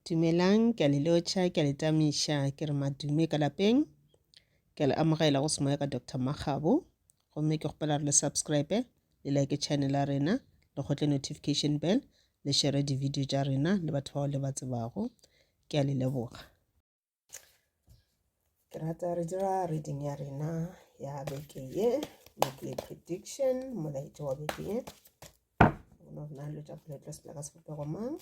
Dumelang, ke a le lotšha, ke a le tamiša, ke re madume ka lapeng. Ke a le amogela go semoya ka Doctor Makgabo. Gomme ke kgopela re le subscribe, le like channel ya rena, le kgotle notification bell, le share di-video tša rena le batho bao le ba tsebago. Ke a le leboga. ke rata re dira reading ya rena ya beke ye weekly prediction molaetso wa beke ye gona go na le tša phuletlo sepela ka sebopego mang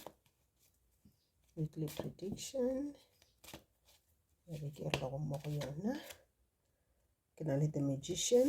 weekly prediction ya beke e rego mo go yona ke na le the magician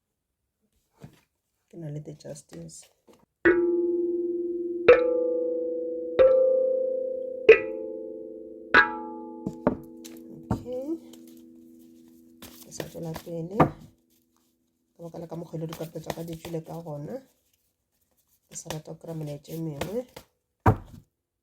ke na le the justice okay ke sa tswela pele ka baka la ka mokgwele dikape tsa ka di tswile ka gona ke sa rata go kry-a melaetša e mengwe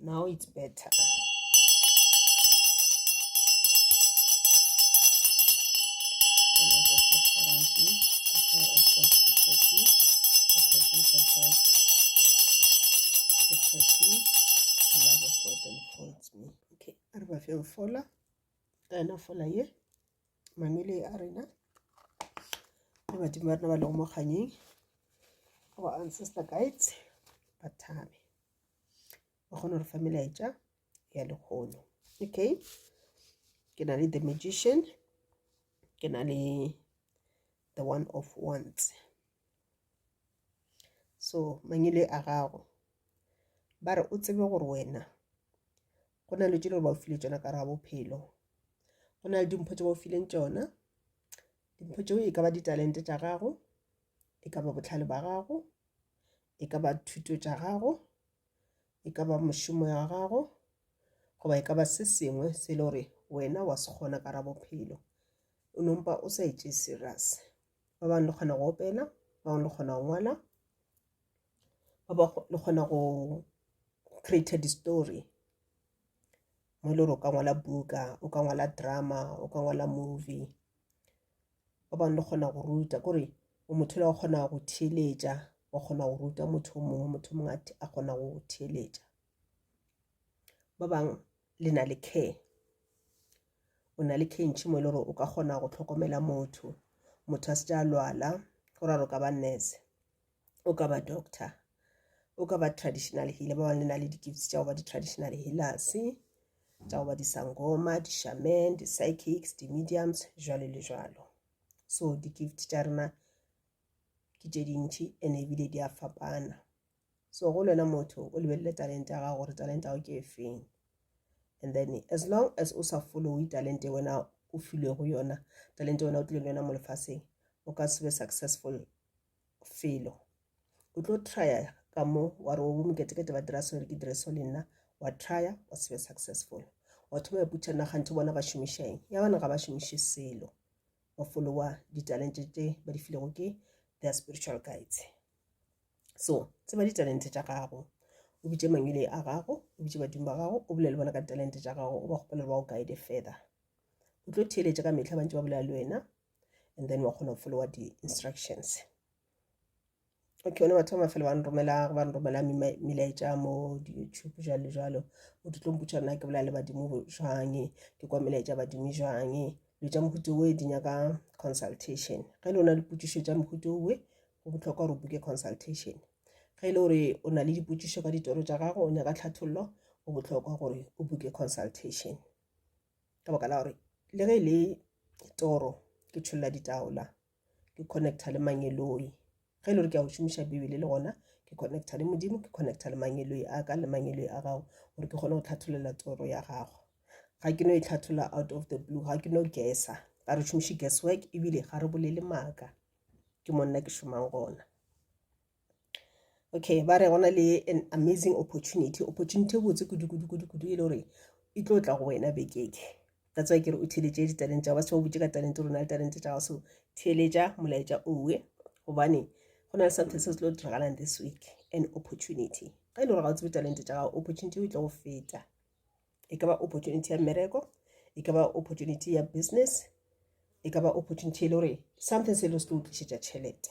Now it's better. Okay, arba fe fola. Ka ena fola ye. mamele a rena le badimo ba rena ba lego mo kganyeng our ancestor guides ba thabe ba kgone gore fa melaetša ya lekgono okay ke na le the magician ke na le the one of ones so mangele a gago ba re o tsebe gore wena go na le dilo gore ba o file tšona ka ra bophelo go na le dimpho tse ba o fileng tšona dimpho tšeo e ka ba ditalente tša gago e ka ba botlhale ba gago e ka ba thuto tša gago e ka ba mošomo ya gago goba e ka ba se sengwe se le gore wena wa se kgona ka ra bophelo o nompa o sa etse serious ba bangwe le kgona go opela ba bangwe le kgona go ngwala ba ba le kgona go create di-story mo e le gore o ka ngwala buka o ka ngwala drama o ka ngwala movie ba bangwe le kgona go ruta kore o motho le wa kgona go theeletša wa kgona go ruta motho o mongwe motho mongwe a kgona go theeletša ba bangwe le na le care o na le care ntšhi mo e le gore o ka kgona go tlhokomela motho motho a se ja lwala go ra re ka ba nurse o ka ba doctor o ka ba traditional healer ba bangwe le na le di-gifts tša go ba di-traditional healers tša go ba disangoma di-shaman di-psychics di-mediums jwalo le jwalo so di-gift tša rena ke tše dintšhi and ebile di a fapana so go lwena motho o lebelele talente ya gago gore talente ya go ke efeng and then as long as o sa followe talente wena o filwego yona talente wena o tlile le yona mo lefatsheng o ka se be successful felo o tlo trya ka mo wa re obo moketekete ba dira sore ke dire so le nna wa trya wa se be successful wa thoma iputša nna ganthe bona ba šomišeng ya bana ga ba šomiše selo ba followa ditalente tse ba di filego ke their spiritual guides so tseba ditalente tša gago o bitše mangwele a gago o bitše badimo ba gago o bolele bona ka ditalente tša gago o ba kgopelele ba o guide further o tlo theeletša ka metlha bantse ba bolela le wena and then wa kgona go followa di-instructions okay one batho ba mafelo ba nromela ba nromela melaetša mo di-youtube jalo le jalo o di tlo mputša nna ke bolela le badimo jwang ke kwa melaetša badimo jwang lo tša mohuto oe di nyaka consultation ge le o na le potšišo tša mohuto oe go bohlokwa gore o buke consultation ge e le gore o na le dipotšišo ka ditoro tša gago o nyaka tlhathollo go bohlokwa gore o buke consultation ka baka la gore le ge e le toro ke tšholela ditaola ke connecta le mangeloi ge e le gore ke a go šomiša bibele le gona ke connecta le modimo ke connecta le mangeloi a ka le mangeloi a gago gore ke kgone go tlhatholela toro ya gago ga ke no e tlhathola out of the blue ga ke no gesa ga re šomiše gas work ebile ga re bolele maaka ke monna ke šomang gona okay ba re go na le an amazing opportunity opportunity e botse kudu-kudu-kudu-kudu e le gore e tlo tla go wena bekeke that's why ke re o theletše ditalente tsa ba se ba botse ka talente rona le talente tsa gaso theletša molaetša owe gobane go na le something se se tlo diragalang this week an opportunity ga e le gore ga o tsebe talente tsa gago opportunity e tlo go feta e ka ba opportunity ya mmereko e ka ba opportunity ya business e ka ba opportunity e le gore something se e le se tlo o tlišetša tšhelete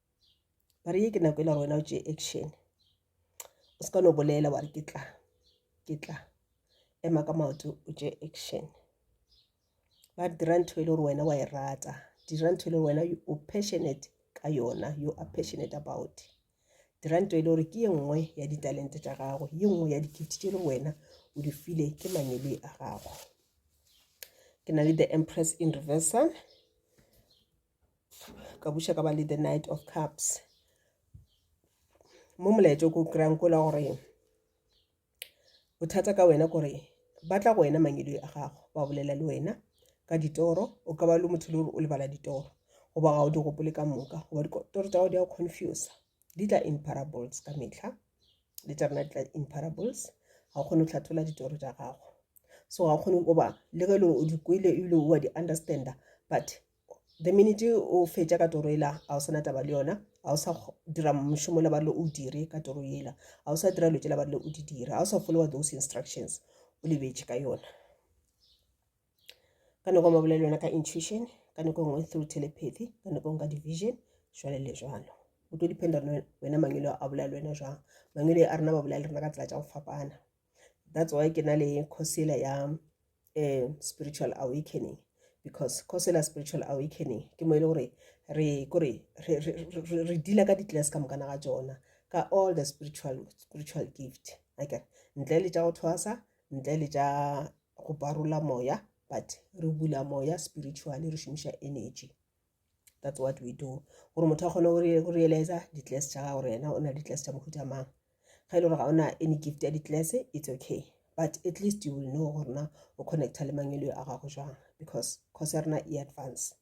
ba re ye ke nako e le gore wena o tšee action o se ka no bolela wa re ke tla ke tla ema ka maoto o tšee action ba re dira ntho e le gore wena wa e rata dira ntho e le gore wena o passionate ka yona you are passionate about dira ntho e le gore ke ye nngwe ya ditalente tša gago ye nngwe ya dikiti tše le wena o di file ke manyebe a gago ke na le the empress in reversal ka buša ka ba le the night of cups mo molaetso ko kry-ang kola gore bothata ka wena kore ba tla go wena mangedoi a gago ba bolela le wena ka ditoro o ka ba le motho le gore o lebala ditoro goba ga o di gopole ka moka goba ditoro tsa go di a confuse di tla in parables ka metlha le tša rena di tla in parables ga o kgone go tlhathola ditoro tša gago so ga o kgone goba le ge e leng o di kwele ebile o a di understanda but the minute o fetša ka toro ela ga o sana taba le yona ga o sa dira mošomo la ba le o dire ka toro ela ga o sa dira dilo tse la ba le o di dira ga o sa followa those instructions o lebetše ka yona ka nako ma bolela yona ka intuition ka nako nngwe through telepathy ka nako nngwe ka division jwale le jwalo o tlo dependa wena mangwelo a bolela le wena jwang mangwelo a rena ba bolela le rena ka tsela tša go fapana that's why ke na le course ela ya eh, spiritual awakening because cosela spiritual awakening ke mo e le gore re kore re dila ka di-class ka mokana ga tsona ka all the spiritual spiritual gift ake ntle le tša go thwasa ntle le tša go barola moya but re bula moya spiritually re šomiša energy that's what we do gore motho a kgone go realiza di-class tša gago gore yena o na le di-class tša mohuta mang ga e le gore ga o na any gift ya di-class it's okay but at least you will know gore na o connecta le mangelo a gago jwang because course ya rena e advance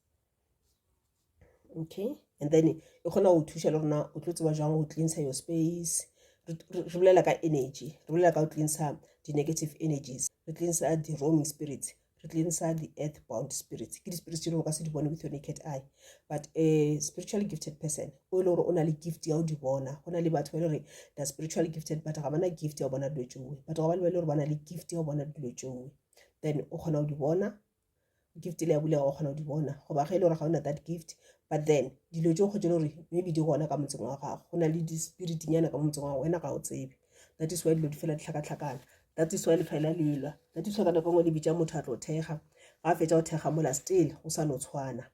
okay and then e kgona go thuša le rona o tlo tseba jwang go cleansa your space re bolela ka energy re bolela ka go cleansa di-negative energies re cleansa di-roaming spirits re tleng sa di-earth bound spirits ke di-spirits tse dingwe ka se di bone with your naked eye but a spiritually gifted person o e le gore o na le gift ya o di bona go na le batho ba e le gore the spiritually gifted but ga ba na gift ya go bona dilo tšeoe batho ga ba le ba e le gore ba na le gift ya go bona dilo tšeoe then o kgona go di bona gift le ya bulega o kgona go di bona goba ge e le gore ga o na that gift but then dilo tšeo kgotse e le gore maybe di gona ka motseng wa gago go na le di-spiritnyana ka motseng wa gago wena ga o tsebe that is why dilo di fela ditlhakatlhakana that is why le fela le elwa that is why ka nako ngwe le bitša motho a tlo thekga ga a fetša go thekga mola still go sa no tshwana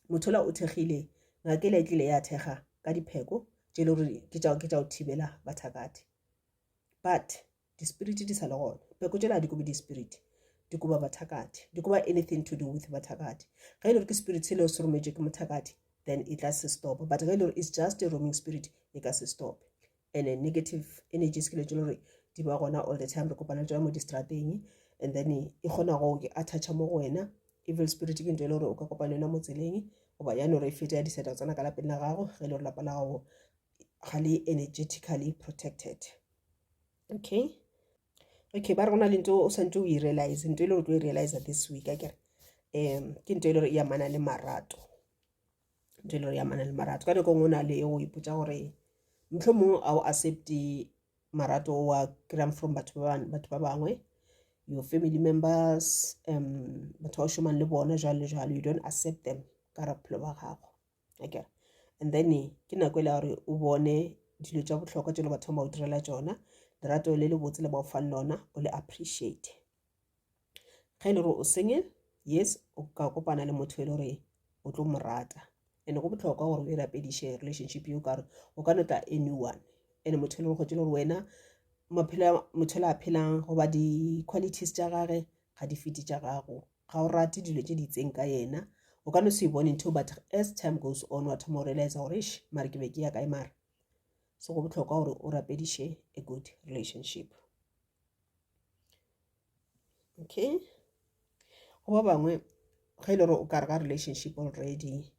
motho la o thekgile ngakela e tlile ya thekga ka dipheko tše le gore ke tša ke tša go thibela bathakathe but dispiriti di sa le gona pheko tšela di kobe dispiriti di koba bathakathe di koba anything to do with bathakathe ge e le gore ke spirit se leo se rometšwe ke mothakathe then e tla se stopa but ge e le gore it's just a roaming spirit e ka se stope and a negative energies ke le tse gore di ba gona all the time re kopana le tsona mo distrateng and then e kgona go ke attach mo go wena evil spirit ke ntho e le gore o ka kopana yona mo tseleng goba yane gore e fete ya diseta tsona ka lapeng la gago ge e le gore lapa la gago ga le energetically protected okay okay ba re go na le nto o santse o e realize nto e le gore o tlo e realize this week a kere um ke nto e le gore e amana le marato dilo ya mana le marato ka nako ngwe o na le go ipotsa gore motlho mongwe a o accepte marato wa kry-ang from batho ba bangwe your family members um batho ba o šomang le bona jalo le jalo you don't accept them ka ra bophelo ba gago akere and then ke nako e le gore o bone dilo tša bohlokwa tšelo batho ba o direla tsona lerato le le botse le ba o fang lona o le appreciate ge e le gore o single yes o ka kopana le motho e le gore o tlo mo rata and go botlhokwa gore o e rapediše relationship eo kare o ka no tla a new one and motho e le gore gore wena motho le a phelang goba di-qualities tša gage ga di fete tša gago ga o rate dilo tše di itseng ka yena o ka no se bone ntho but as time goes on wa thoma o realize gore sh mare ke be ke ya kae mare so go botlhokwa gore o rapediše a good relationship okay go ba bangwe ge e le gore o kare ga relationship already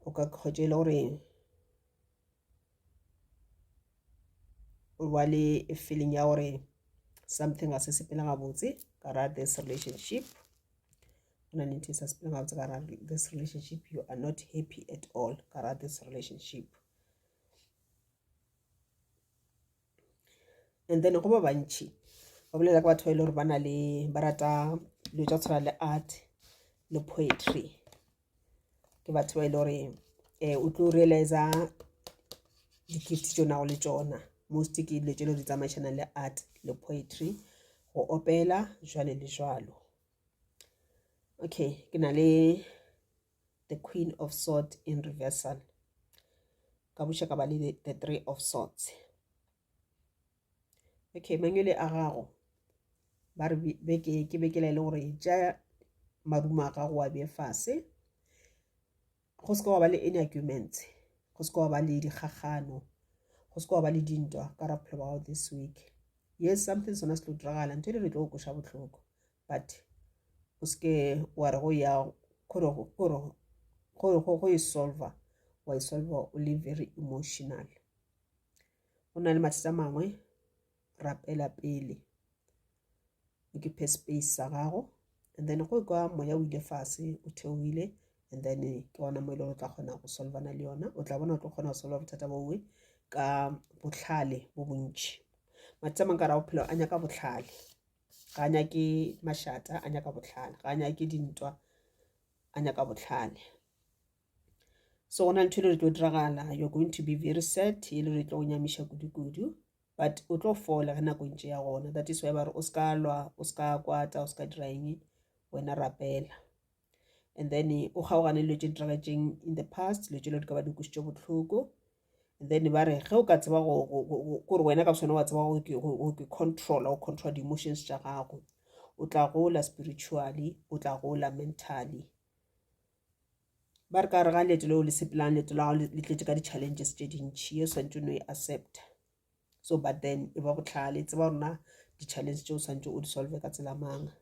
o ka kgotse e le gore o ba le feeling ya gore something a se sepela gabotse ka ra this relationship go na le ntho e sa sepela gabotse ka ra this relationship you are not happy at all ka ra this relationship and then go ba bantšhi ba bolela ka batho ba e le gore ba na le ba rata dilo tsa tshwana le art le poetry ke batho ba e le gore um eh, o tlo realiza dikiriti tso nago le tsona most ke dilo tse le di tsamaišanang le art le poetry go opela jwale le jwalo okay ke na le the queen of sword in reversal ka buša ka ba le the three of swords okay mangwele a gago ba re beke ke bekela e le gore ja marumo a gago wa bee fase go se ka wa ba le any arguments go se ka wa ba le dikgagano go se ka wa ba le dintwa ka ra bophelo ba gago this week yes something sona se tlo diragala ntho e le re tlo go koša botlhoko but o seke wa re go ya go e solva wa e solva o le very emotional go na le mathata mangwe rapela pele o ke phe space sa gago and then go kwa moya o ile fase o theohile and then ke ona mo e leng o tla kgona go solvana le yona o tla bona o tlo kgona go solva bothata bowe ka botlhale bo bontšhi mathata mangwe ka ra bophelo a nyaka botlhale ga a nyake mašata a nyaka bohlale ga a nyake dintwa a nyaka bohlale so go na ntho e le re tlo diragala you're going to be very sad e le re tlo go nyamiša kudu-kudu but o tlo fola ge nako ntše ya gona that is why ba re o se ka lwa o se ka kwata o se ka dira eng wena rapela and then o kgaogane dilo tše ditiragetseng in the past dilo tše lo di ka ba di kwisitše bohloko and then ba re ge o ka tseba kore wena ka bosone wa tseba go ke controla go controla di-emotions tša gago o tla gola spiritually o tla gola mentally ba re ka re ga leeto leo le sepelang leeto la gago le tletse ka di-challenges tše dintšhi ye o swantse o no e accepta so but then e ba botlhale tseba gore na di-challenge tse o santse o di solve ka tsela mang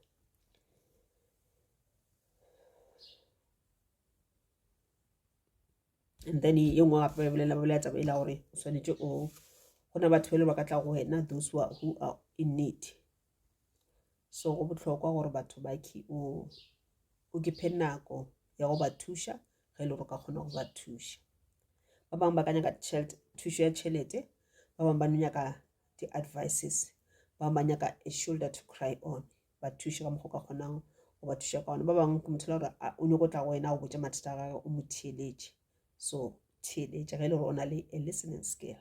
and then e nngwe gape ba bolela ba bolela taba e la gore o swanetse o go na batho ba le ba ka tla go wena those who are in need so go bohlokwa gore batho ba ki o o ke phe nako ya go ba thuša ge e le gore ka kgona go ba thuša ba bangwe ba ka nyaka thušo ya tšhelete ba bangwe ba no nyaka di-advices ba bangwe ba nyaka a shoulder to cry on ba thuše ka mokgwa o ka kgonang go ba thuša ka one ba bangwe ke motho le gore o nyoko tla go wena o botse mathata a gage o mo theeletše so theeletše ge e le gore o na le a listening skill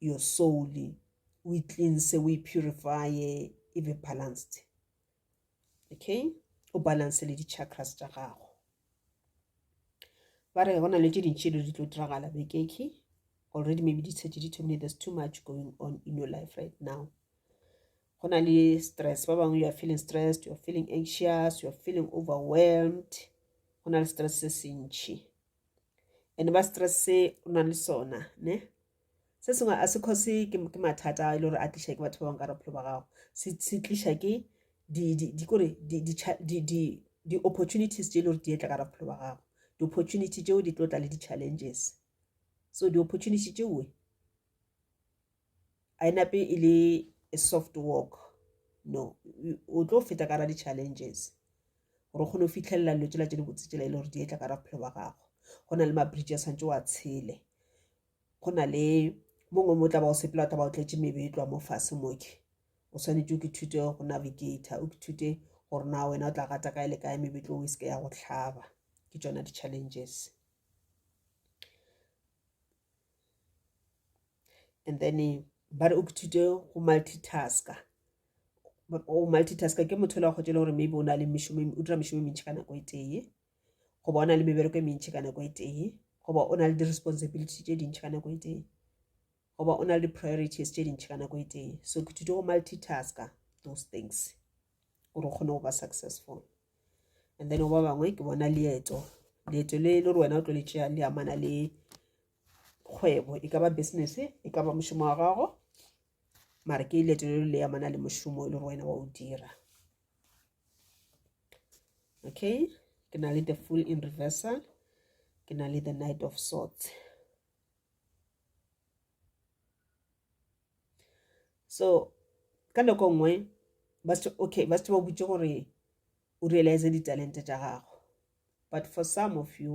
your soul o e cleanse o e purifye e be balanced okay o balance le di-chakras tša gago ba re go na le tše dintši dilo di tlo diragala bekeke already maybe di tshetse di thomile there's too much going on in your life right now go na le stress ba bangwe you are feeling stressed you are feeling anxious you are feeling overwhelmed go na le stress se sentšhi and ba stress se o nang le sona ne se sengwe a se cause ke mathata a e le gore a tliša ke batho ba bangwe ka bophelo ba gago se tliša ke dikore di-opportunities tse e le gore di etla ka bophelo ba gago di-opportunity tseo di tlo tla le di-challenges so di-opportunity tseoe a e nape e le a soft walk no o tlo feta ka ra di-challenges gore o kgone go fitlhelela dilo tsela tse di botse tsela e le gore di etla ka ra bophelo ba gago go na le ma-bridge a tshwanetse wa tshele go na le mongwe mo tla ba o sepela tla ba o tletse mebe e tloa mo fase moke o tshwanetse o ke thute go navigator o ke thute gore na wena o tla gata kae le kae mebetlo o e seke ya go tlhaba ke tsona di-challenges and then eh, ba re o kithute go multitasker o multitasker ke motho la go tšela gore maybe o na le mešomo o dira mešomo e mentšhi ka nako e tee goba o na le mebereko e mentšhi ka nako e tee goba o na le di-responsibility tše dintšhi ka nako e tee goba o na le di-priorities tše dintšhi ka nako e tee so ke thute go multitasker those things gore o kgone go ba successful and then ba bangwe ke bona leeto leeto le le gore wena o tlo le tšea le amana le kgwebo e ka ba business e ka ba mošomo wa gago mare ke leeto le le amana le mošomo e le gore wena wa o dira okay ke na le the full in reversal ke na le the night of sorts so ka nako nngwe ba se okay ba se ba butse gore o realize ditalente tša gago but for some of you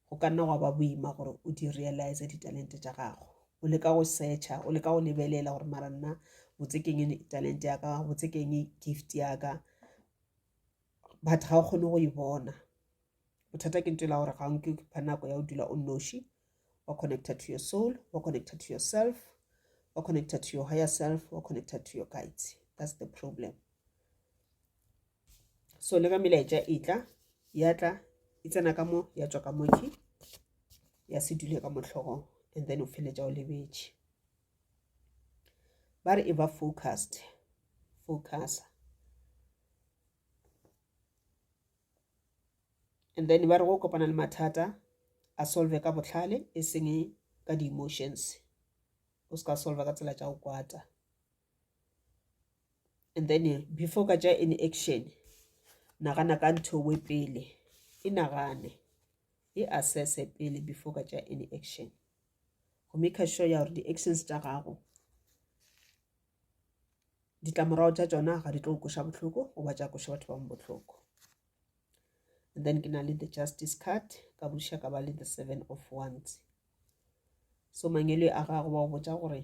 go ka nna gwa ba boima gore o di realize ditalente tša gago o leka go searcha o leka go lebelela gore mara nna botse keng talente ya ka botse keng gift ya ka but ga o kgone go e bona bothata ke ntela gore ga o nke pha nako ya o dula o noši wa connecta to your soul wa connecta to yourself wa connecta to your higher self wa connecta to your guides that's the problem so le ka melaetša e tla ya tla e tsena ka mo ya tswa ka moki ya se dule ka mohlogong and then o feletša o lebetše ba re e ba focused focusa and then ba re go kopana le mathata a solve ka botlhale e seng ka di-emotions o se ka solve ka tsela tša go kwata and then before ka tša any action nagana ka ntho we pele e nagane e assesse pele before ka tša any action go make sure ya gore di-actions tša gago ditlamorago tša tšona ga di tlo koša bohloko goba tša koša batho bangwe bohloko and then ke na le the justice card ka buša ka ba le the seven of ones so mangelo a gago ba go botsa gore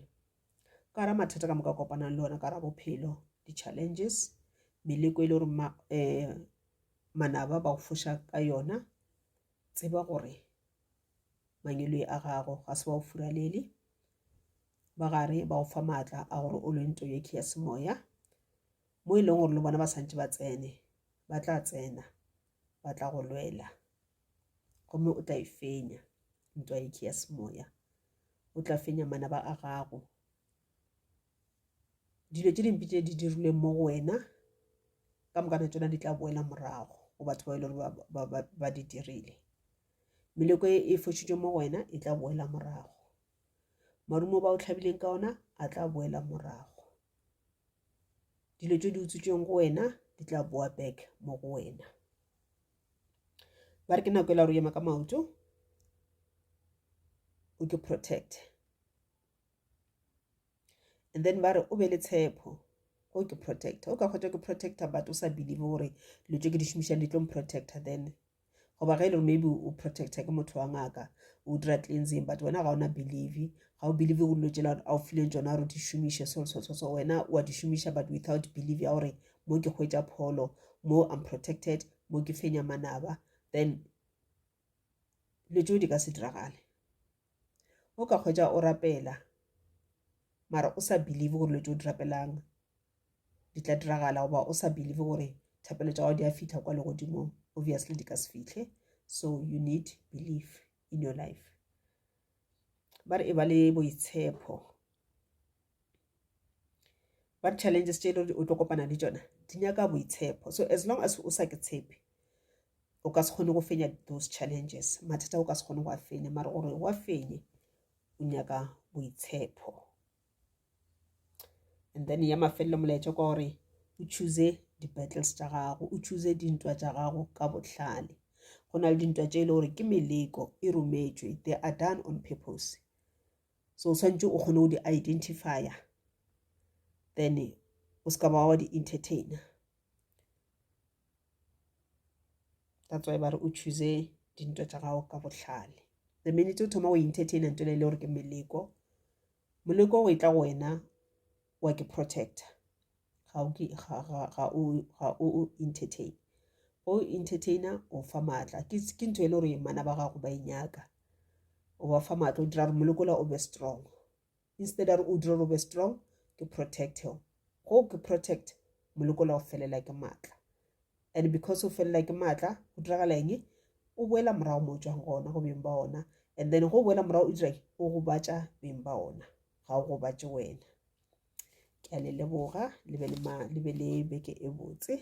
ka ra mathata ka moka kopanang le ona ka ra bophelo di-challenges meleko e le gore um eh, manaba ba go foša ka yona tseba gore mangelo a gago ga se ba go furalele ba gare ba go fa maatla a gore o lwe nto yekhe ya semoya mo e leng gore le bona ba santse ba tsene ba tla tsena ba tla go lwela gomme o tla e fenya nto yekhe ya semoya o tla fenya manaba a gago dilo tse dimpe tse di dirilweng mo go wena ka mokana tsona di tla boela morago go batho ba e le gore ba di dirile meleko e e fošitšwe mo go wena e tla boela morago marumo ba o tlhabileng ka ona a tla boela morago dilo tse di utswitsweng go wena di tla boa back mo go wena ba re ke nako e la ro ema ka maoto o ke protect and then ba re o be le tshepo o ke protector o ka kgotsa ke protector but o sa believe gore dilo tse ke di šomišang di tlo protector then goba ge e le gore maybe o protecta ke motho wa ngaka o dira cleansing but wena ga o na believe ga o believe go dilo tsela a o fileng tsona gore di šomiše so so so so wena wa di šomiša but without believe ya gore mo ke hwetša pholo mo i'm protected mo ke fenya manaba then dilo tseo di ka se diragale o ka hwetša o rapela mara o sa believe gore dilo tseo di rapelang di tla diragala goba o sa believe gore thapelo tša gago di a fitlha kwa legodimong obviously di ka se fitlhe so you need belief in your life ba re e ba le boitshepo ba re challenges tše e le gore o tlo kopana le tsona di nyaka boitshepo so as long as o sa ke tshepe o ka se kgone go fenya those challenges mathata o ka se kgone go a fenya mara gore wa fenye o nyaka boitshepo and then ya mafelelo molaetša kwa gore o choose di-battles tša gago o choose dintwa tša gago ka bohlale go na le dintwa tše e le gore ke meleko e rometšwe they are done on purpose so o tshwanetse o kgone go di-identifier then o se ka ba wa di-entertainer that's why ba re o choose dintwa tša gago ka bohlale the minute o thoma go entertaina nto le e le gore ke meleko moleko o e tla go wena wa ke protector ga o entertain o entertainer o fa maatla ke ntho e le gore mana ba gago ba e nyaka o ba fa maatla o dira gore molekola o be strong Instead a re o dire o be strong ke protect him. Go ke protect molekola o felela ke maatla. And because o felela ke maatla go diragala eng? O boela morago mo o tswang gona go beng ba ona. And then go boela morago o dira eng? O gobatša beng ba ona. Ga o gobatše wena. Ke a le leboga le be le ma le be le beke e botse.